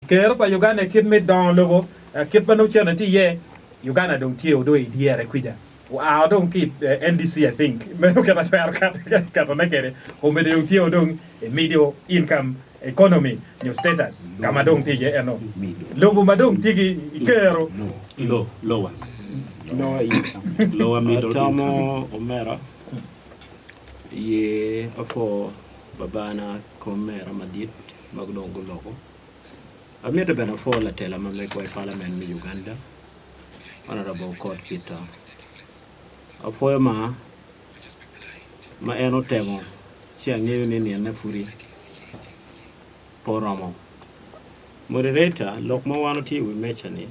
Ker pa Uganda kit me dongo lobo kit ma nongo cene tye iye, Uganda dong tye o dong i dyere kwica, oa o dong ki i NDC I think meno kit atwero keto ne kede kome dong tye o dong i middle income economy nyo status ka ma dong tye iye eno lobo ma dong tye ki kero Lower income Atamo omera ye afo babana komera madit. ma dong guloko. Amito bene apwo latela ma megwa i palament me Uganda, Honourable Okot Peter. Apwoyo ma, ma en otemo ci angeyo ni niyene pudi pe oromo. Moderator, lok ma wan watye i wi meca-ni,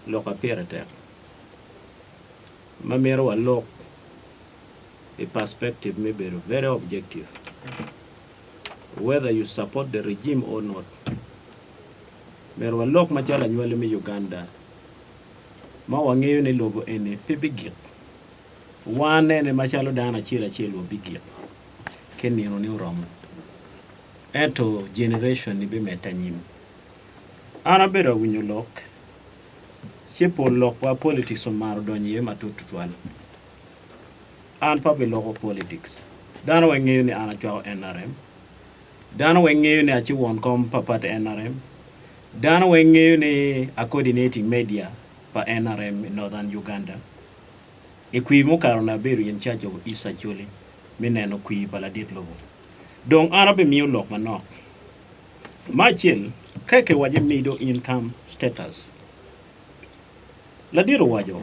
lok aye pire tek, ma mito walok i perspective me bedo very objective. whether you support the regime or not myero walok macalo anywali me Uganda ma wangeyo ni lobo eni pe bigik, wanene macalo dano acel acel wa bigik ki nino ni oromo ento generation ni bimedde anyim. An abedo awinyo lok ci pol lok wa politics omaro donyo iye matut tutwal. An pe abiloko politics. Dano weng ngeyo ni an acwako nrm. Dano weng ngeyo ni aci won kom pa party nrm. Dano weng ngeyo ni a coordinating media pa nrm i Northern Uganda. I kwir mukato ni abedo in charge of East Acholi me neno kwir pa ladit lobo. Dong an ape miyo lok manok. Me acel, keke waco mido income status. Ladit owaco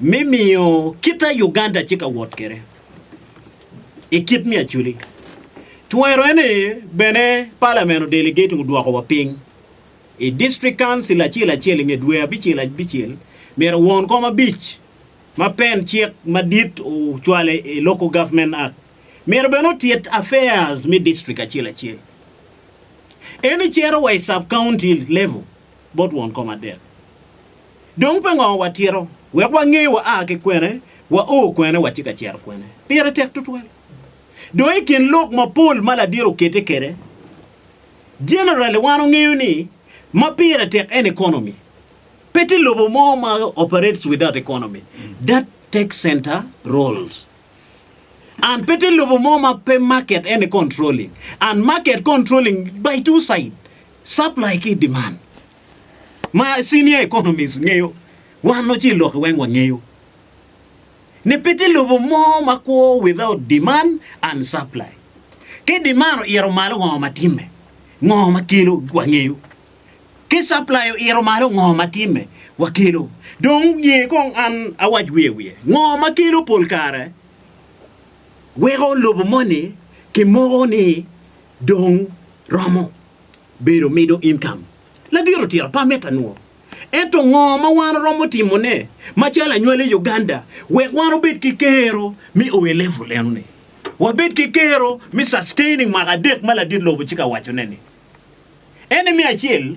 me miyo kit aye Uganda tye ka wot kwede i kit me acoli. Twero en aye bene Parliament odelegate odwoko wa piny i District Council acel acel i nge dwe abicel abicel myero won kom abic ma pen cik madit ocwale i Local Government Act myero bene otit affairs me District acel acel. Eni cito wa i Sub County level bot won kom adek. Dong pe ngo wa tito wek wa nge wa a ki kwene, wa o kwene, wa ci ka cito kwene. Pire tek tutwal. Dong i kin lok ma pol ma ladiro okette kede, generally wan ongeyo ni ma pire tek en economy. Pe tye lobo mo ma operates without economy. That takes center roles. And pe tye lobo mo ma pe market en controlling. And market controlling by two side, supply ki demand. ma senior economist ngeyo wan wa ci i lokke weng wangeyo ni pe tye lobo mo ma kwo without demand and supply. Ki demand oito malo ngo ma timme? Ngo ma kelo wangeyo. Ki supply oito malo ngo ma timme? Wakelo. Dong ye kong an awac wiye wiye. Ngo ma kelo pol kare weko lobo moni ki moko ni dong romo. Bedo middle income ladit otira pe amito anwo. Ento ngo ma wan oromo timo ne macalo anywale i Uganda wek wan obed ki kero me o e level eno ni? Wabed ki kero me sustaining mwaka adek ma ladit lobo ci ka wacone ni. Ene me acel.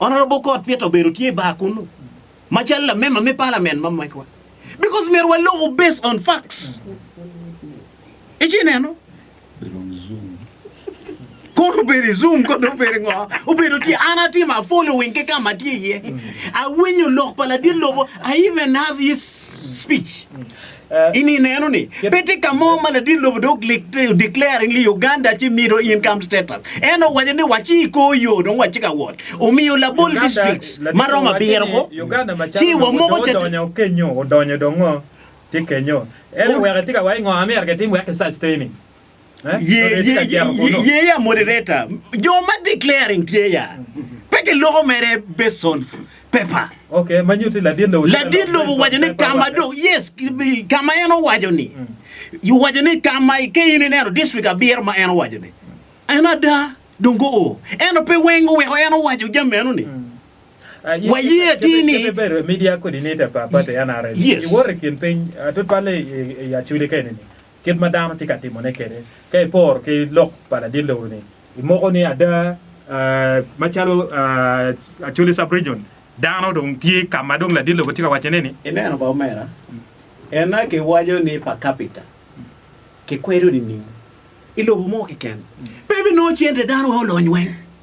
Honourable Kot Peter obedo tye i bar kunu macalo lamember me parliament ma mecwa because myero waloku based on facts. Ici neno? Kono obedo i Zoom, kono obedo ngo? Obedo tye an atimo a following ki ka ma tye iye. Awinyo lok pa ladit lobo, I even have his speech. In ineno ni pe tye ka mo ma ladit lobo dong declaring ni Uganda ci middle income status. En owaco ni waci i kor yo dong watye ka wot. Omiyo labol districts ma romo abiro ko ci wamoko ca. Odonyo kenyo, odonyo dong ngo tye kenyo. En oweko etika wa ingo America etim wek ki sustain-ni. Ye ya moderator, jo ma declaring tye ya. Pe ki loko mere based on paper. Okay, ma nyuti ladit lobo. Ladit lobo owaco ni kama do, yes, kama en owaco ni. Owaco ni kama ke in ineno district abiro ma en owaco ni. En ada, dong go o. Eno pe weng oweko en owaco jam meno ni. Waye ati ni. Kebe bedo media coordinator pa party NRM. Yes. Iwori kin piny, atut pale i achuli keni ni. Kit ma dano tye ka timone kwede. Ka iporo ki lok pa ladit-lewu-ni, imoko ni ada macalo Acholi Sub-Region, dano dong tye ka ma dong ladit-lewu tye ka wacone-ni. I neno pa omera, ena giwaco ni per capita kikwedo nining i lobo mo keken? Pe binongo cente, dano aye olony weng.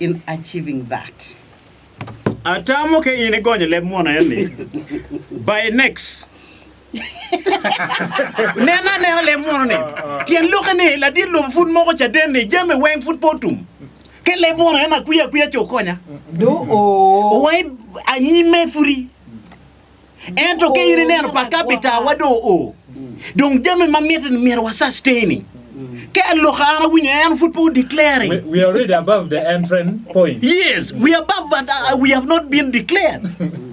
in achieving that. Atamo ka in igonyo leb munu eni by next Nen anena leb munu ni tyen lokke ni ladit lobo pud moko caden ni jami weng pud pe otum ke leb munu eni akwiya akwiya ce okonya. Do oo. Wangi anyime pudi. Ento ka in ineno pa kabitawa dong oo, dong jami ma miti-ni myero wa-sustain-i. Ka aloka an awinyo en pud pe o-declare-ri. We, we are already above the entrant point. Yes, we are above but uh, we have not been declared.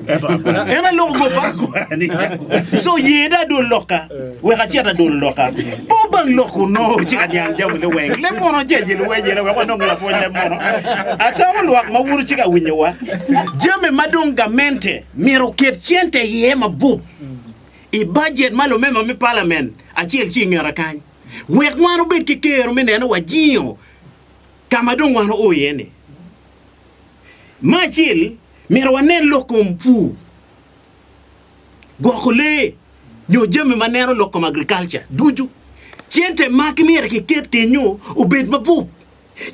Ento akwani. En aloko go pa akwani. So yeda adol loka, wek acit adol loka. Po bang lok uno ci ka niang jami ni weng. Leb mono jeye luwenyere wek wanong lapwony leb mono. Atamo lwak ma wun ci ka winyowa. Jami ma dong gamente Myero oket cente iye mabup i bajet ma lumema me palament acel ci i ngeta kany wek wan obed ki kero me neno wa jingo ka ma dong wan oo iye-ni. Me acel, myero wanen lok kom pur, gwoko lee, nyo jami ma neno lok kom agriculture ducu. Cente magi myero kiket kenyo obed mabup.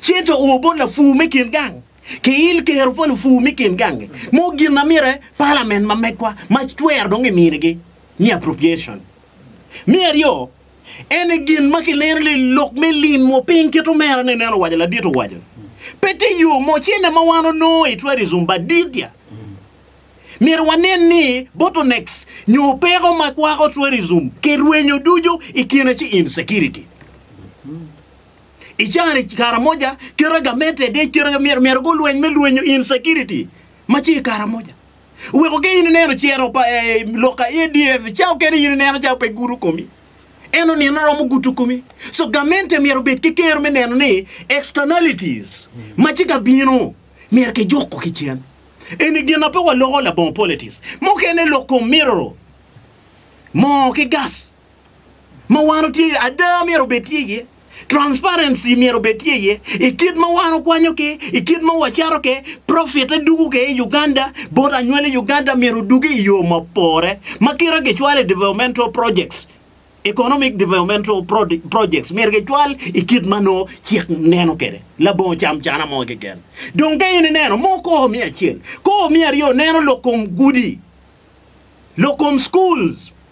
Cente o bot lapur me kin gang. ki il kero pa lupur mi kin gangi mo gin na mire palamen ma megwa ma twero dong eminigi ni appropriation. Me aryo, en e gin ma kineno ni lok me lim mo piny kit omera ne nen owaco ladit owaco pe tye yo mo cene ma wan onongo i tourism but didia myero wanen ni bottlenecks nyo peko ma kwako tourism ki rwenyo ducu i kine ci insecurity. I caa-ni Karamoja kite gamente de kite myero myero gulweny me lwenyo insecurity ma tye i Karamoja. Weko ki in ineno ciro pa eh, lok ka ADF caa okene in ineno caa pe gudo komi. En onino romo gudo komi. So gamente myero obed ki kero me neno ni externalities ma tye ka bino myero kijuko ki cen. Eni gin na pe waloko labongo politics. Mukene lok kom mirror, moo ki gas. ma wan otye iye, ada myero obed tye iye, transparency myero obed tye iye i kit ma wan okwanyo ki, i kit ma wacato ki, profit-te dugo ki i Uganda, bot anywali i Uganda myero odugi i yo ma pore ma kite kicwalo i developmental projects, economic developmental projects myero kicwal i kit ma nongo cik neno kwede labongo camcana mo keken. Dong ka in ineno mo kor me acel, kor me aryo neno lok kom gudi, lok kom schools,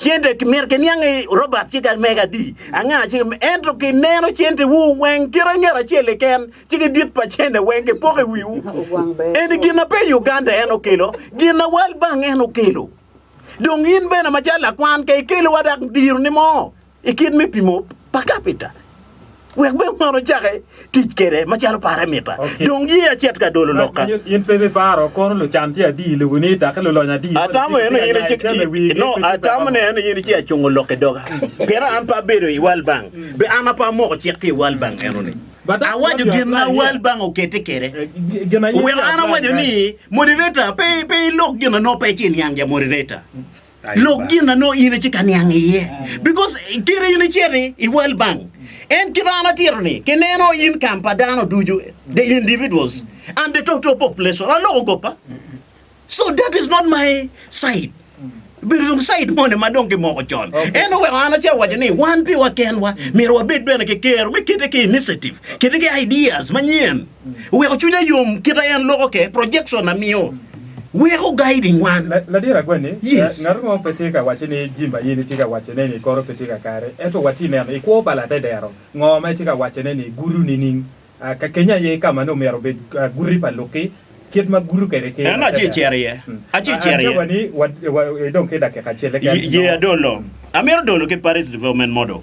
Cente myero kiniang ni Robert ci ka mega adi anga ci ento ki neno cente wu weng kit anget acel i ken ci ki dit pa cente weng ki poko i wiwu eni gin na pe Uganda en okelo gin na World Bank en okelo dong in bene macalo lakwan ka ikelo wa dak diro ni mo ikit me pimo pa kapita wek bene man ocake tic kede macalo pare mita. Okay. Dong ye acet ka dolo lok ka. In pe bi paro kono lucan ti adi le wini ta ke lulony adi. Atamo en ni in ci no atamo ni en ni in ci acungo lok i doga. Pien an pa bedo i World Bank. Mm. Be an apa moko cik ki i World Bank eno ni. Awajo gin na World Bank okete kede. Eh, Wek an awajo ni moderator pe pe ilok gin no pe ci niang ja moderator. Mm. Lok gin na nongo in itye ka niang iye. Because kite in iciti i World Bank, en kite an atito ni kineno income pa dano ducu, the individuals and the total population, aloko goppa. So that is not my side. Bedo dong side moni ma dong kimoko con. Okay. En oweko an ace awaco ni wan piwa kenwa myero wabed bene ki kero me kite ki initiative, kite ki ideas manyen. Weko cwinya yom kite en loko ke projection a miyo weko guiding wan. Ladit agwenni, ngato mo pe tye ka wacci ni jim ma in itye ka wacone ni ikoro pe tye ka kare. Ento watye neno i kwo pa latedero ngo ma itye ka wacone ni gutu nining? Ka keny aye ka ma nongo myero obed guti pa lukki kit ma gutu kede ki latedero. En aci icero iye. Aci icero iye. An ca wani idong ki dakika acel keken nongo. Ye adolo. Amito dolo ki Paris Development Model.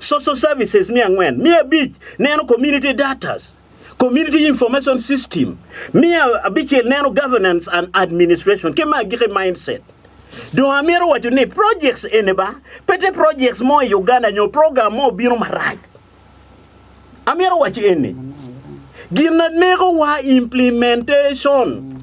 Social Services me angwen, me abic neno Community Datas, Community Information System, me abicel neno Governance and Administration ki me agikki Mindset. Dong amito waco ni projects eni ba pe te projects mo i Uganda nyo program mo obino marac. Amito waco eni, gin ma negowa implementation.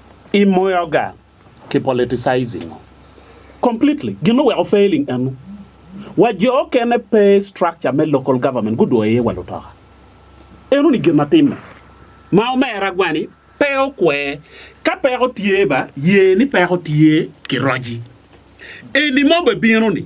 I moyo ga ki politicizing ngo completely gin oweko failing enu wa jo okene pe structure me local government gudwoyo iye wa lutoka enu ni gin ma timme ma omera gwani pe okwe ka peko tye ba ye ni peko tye ki roji eni ma obebino ni.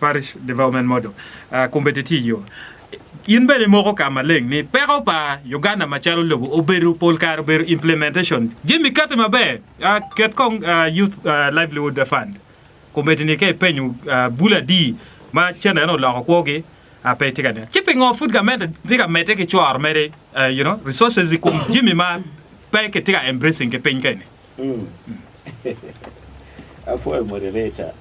Parish Development Model, kombeddi tye iyo. In bene imoko ka maleng ni peko pa Uganda macalo lobo obedo pol kare obedo implementation. Jim ikati maber, ket kong Youth Livelihood Fund kombeddi ni ka ipenyo bul adi ma cente eno oloko kwogi pe itye ka neno ci pingo pud gamente tye ka medde ki cworo mere resources ikom jami ma pe kitye ka embracing ki piny keni. Apwoyo moderator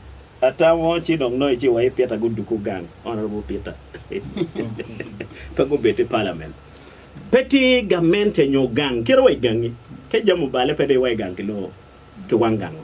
atamo ci dong nongo ci wa i Peter guduku gang honourable Peter pe gubed i parliament pe tye gamente nyo gang kite wa i gangi ka jami obale pe dong iwa i gang ki lor ki wang gang o.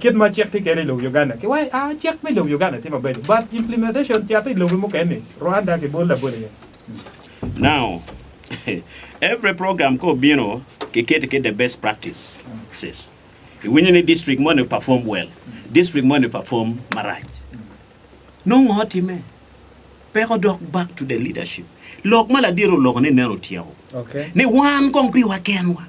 Kit ma cik tye kede i lobo Uganda ki wai a cik me lobo Uganda tye mabeco but implementation cate i lobe mukene Rwanda ki bol labol aye. Now every program ka obino ki kete ki the best practices iwinyo ni district moni perform well district moni perform marac Nongo ngo otime? Peko dok back to the leadership. Lok ma ladit oloko ni nen otyeko. Ni wan kong piwa kenwa.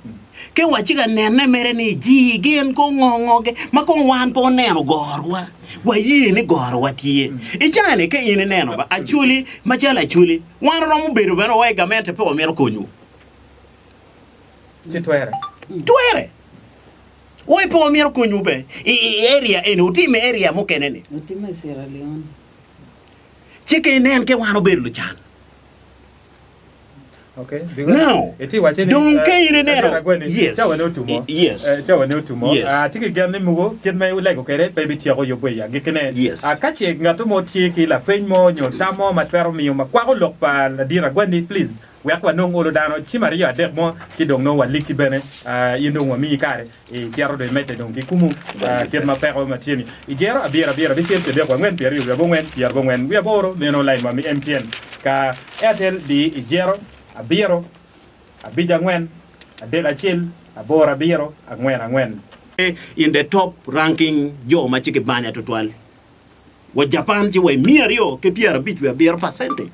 Ke wa ci ka nene mere ni ji gin kong ngo ngo ge ma kong wan pe oneno gorwa. Wa ye ni gorwa tye. I caa ni ke in i neno ba Acholi ma calo Acholi wan oromo bedo bene wa i gamente pe wa mito konyo. Ci twere. Twere. Wa i pong myero okonywu be i i area eni wutim i area mukene ni. Watimo i Sierra Leone. Ci ke nen ke wan obedo lucan. Okay. Because Now, iti wace ni dong ka in ineno- Elder Agweli, Yes. cawa ne otumo. I- yes. Eh, cawa ne otumo. Yes. Ah, tye ki gen ni mugu kit ma ilego kwede pe ibityeko yubbe i agikkine. Yes. Ah, ka ce ngatto mo tye ki lapeny mo nyo tam mo ma twero miyo ma kwako lok pa Ladira Agweli, please wek wanong olo dano cim aryo adek mo ci dong nongo walikki bene, in dong wamiyi kare icito dong imedde dong ki kumu kit ma peko ma tye-ni. I jero abiro abiro abicel pi adek wangwen pi aryo wi abongwen pi arobongwen wi aboro meno lain wa mi MTN ka Airtel di i jero abiro abic angwen adek acel aboro abiro angwen angwen. In the top ranking jo ma ci kibanya tutwal wa Japan ci wa i miya aryo ki pyera abic wi abiro percentage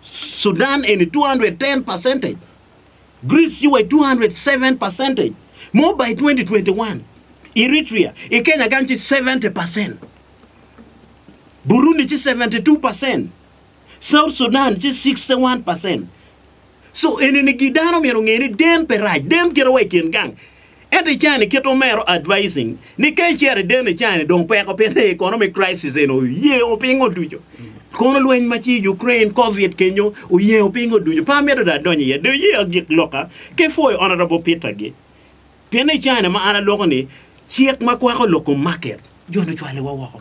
Sudan eni 210 percentage, Greece ci wa i 207 percentage, mo by 2021 Eritrea i Kenya gang ci 70 percent, Burundi ci 72 percent, South Sudan ci 61 percent. So enini gi dano myero onge ni dem pe rac, dem kite wa i kin gang. Ento i cani kit omero advising ni ka icero i deno i cani dong peko pien ni economic crisis eni oyengo pingo ducu. Kono lweny ma ci Ukraine, covid kenyo oyengo pingo ducu. Pe amito dong adonyo iye. Do iye agik loka ki pwoyo Honourable Peter gi. Pien ni i cani ma an aloko ni cik ma kwako loko market jo ni ocwale wa woko.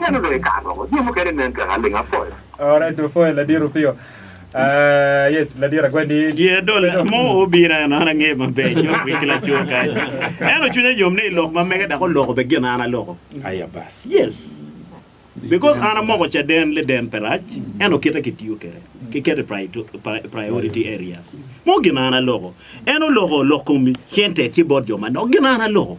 Meno dong i kare mogo jami mukene nen kaka aling apoya. Alright two four ladit Opio. Ah yes ladit agwedi. Yeah dole amo obiro eno an ange maber ci otwig ki laco kany eno cwinye yom ni ilok ma mege dok oloko be gin an aloko aya bas yes because an amoko caden liden pe rac eno kite ki tiyo kwede ki kete i priority areas mo gin an aloko en oloko oloko kom center ci bot jo manok gin an aloko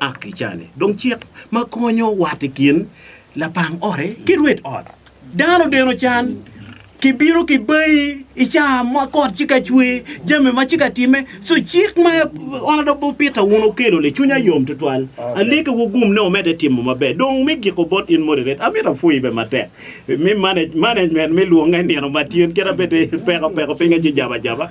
ak i cane. Dong cik ma konyo wat i kin lapang ote ki rwed ot. Dano deno can, kibino ki bayi i caa ma kot ci ka cwer, jami ma ci ka timme. So cik ma Honourable Bob Peter wun okelo ni cwinya yom tutwal. Aliki wugum ni omedde timo maber. Dong me giko bot in Moderator, amito apwoyi be matek. Mi manage, management me lwonge nino ma tyen kit abedde peko peko pinge ci jaba jaba.